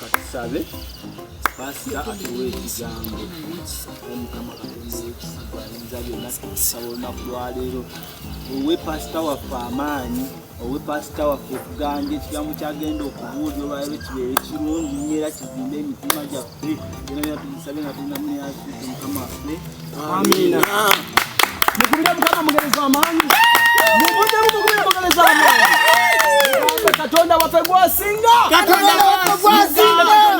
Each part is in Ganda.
katusabe pasita atuwa ekigambo omukama katondaekisagayinza byonna tukusaba olunaku lwaleero owe pasita waffe amaanyi owe pasita waffe okuganja ekigambo kyagenda okubuulira olwaleero kibeere kirungi nyo era kizimbe emitima gyaffe katonda waffe gwasinga katonda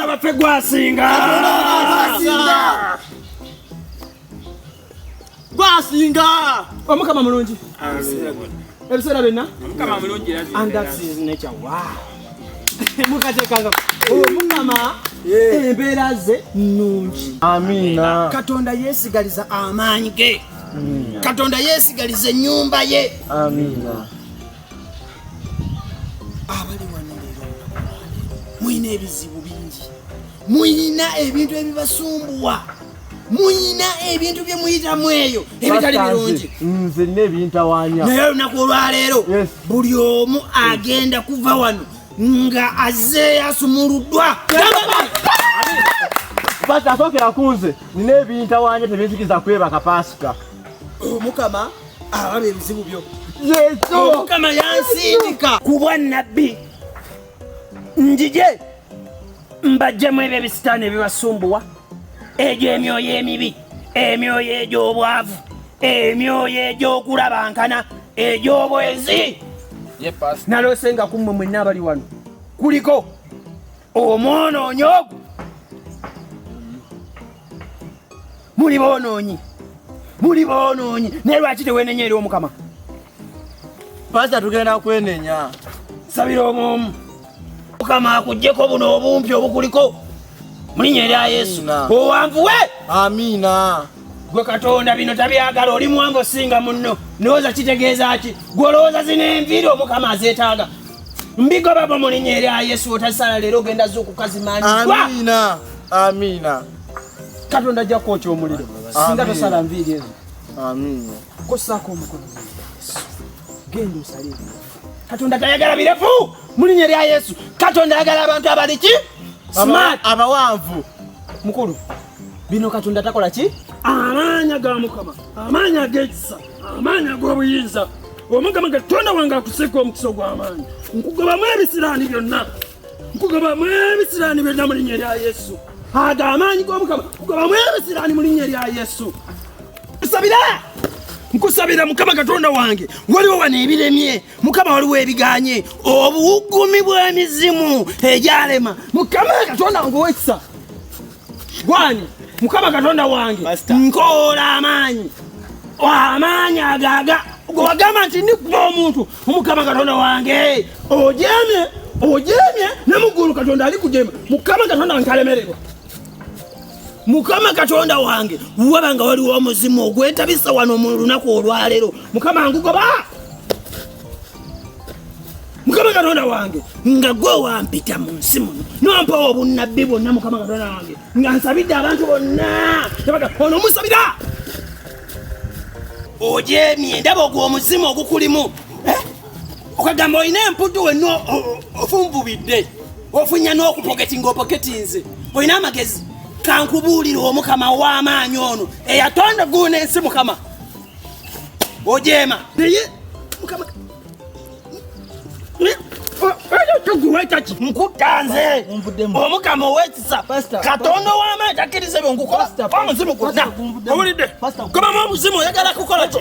waffe gwasinga gwasinga omukama oh, mulungi ebiseera byonna mukatekanga omukama embeera ze nnungi amiina katonda yeesigaliza amaanyi ge katonda yeesigaliza ennyumba ye amiina abali wano leero mulina ebizibu bingi mulina ebintu ebibasumbuwa muyina ebintu bye muyitamu eyo ebitali birungi nze nina ebintawanya naye olunaku olwaleero buli omu agenda kuva wano nga azze yasumuluddwa basi asookera ku nze nina ebintawanya tebinzikiza kwebaka paasika omukama oh, ababa ebizibu byo yesu omukama oh, yansindika kubwa nabbi njije mbajjemu ebyo ebisitaani ebibasumbuwa egyo emyoyo emibi emyoyo egy'obwavu emyoyo egy'okulabankana egy'obwezi naloose nga kummwe mwenna abali wano kuliko omwonoonyi ogwo muli boonoonyi muli boonoonyi naye lwaki tewenenya eri omukama Pasa tugenda kwenenya. Sabira omumu. Mukama akujjeko buno obumpi obukuliko. Mulinya erya Yesu. Owanvuwe. Amina. Gwe Katonda bino tabyagala oli mwango singa munno. Ndowooza kitegeeza ki? Gwe olowooza zino enviiri omukama azeetaaga. Mbigo baba mulinya erya Yesu otasala leero ogenda zuukukazimanyiddwa. Amina. Amina. Katonda ajja kwokya omuliro. Singa tosala nviiri ezo. Amina. Kosaako omukono mu Yesu. Genda osale ebirefu. Katonda tayagala birefu mu linnya lya Yesu. Katonda ayagala abantu abali ki? Smart. Abawanvu. Mukulu, bino Katonda takola ki? Amaanya ga Mukama, amaanya ag'ekisa, amaanya ag'obuyinza. Omukama Katonda wange akuseeko omukisa ogw'amaanyi. Nkugobamu ebisiraani byonna. nkugaba mwebisirani byonna mu linnya erya yesu aga amaanyi g'omukama nkugaba mwebisirani mu linnya erya yesu nsabira nkusabira mukama katonda wange waliwo wano ebiremye mukama waliwo ebiganye obuwugumi bw'emizimu egyalema mukama katonda wange owekisa gwani mukama katonda wange nkoola amaanyi amaanyi agaga gwagamba nti ndikuba omuntu omukama katonda wange ojemye ojemye ne muggulu katonda ali kujema mukama katonda wange kalemererwa mukama katonda wange waba nga waliwo omuzimu ogwetabisa wano mu lunaku olwaleero mukama ngugoba mukama katonda wange nga gwe wampita mu nsi muno nompawo obunnabbi bwonna mukama katonda wange nga nsabidde abantu bonna ebaga ono musabira ojemye ndaba ogwo omuzimu ogukulimu eh? okagamba olina empuddu wenna ofunvubidde ofunya n'okupoketinga opoketinze olina amagezi kankubuulire omukama w'amaanyi ono eyatonda guuna ensi mukama ojeema naye mukama nkutanze omukama owekisa katonda ow'amaanyi takkiriza ebyo nkukola omuzimu gwonna owulidde kubamu omuzimu oyagala kukola kyo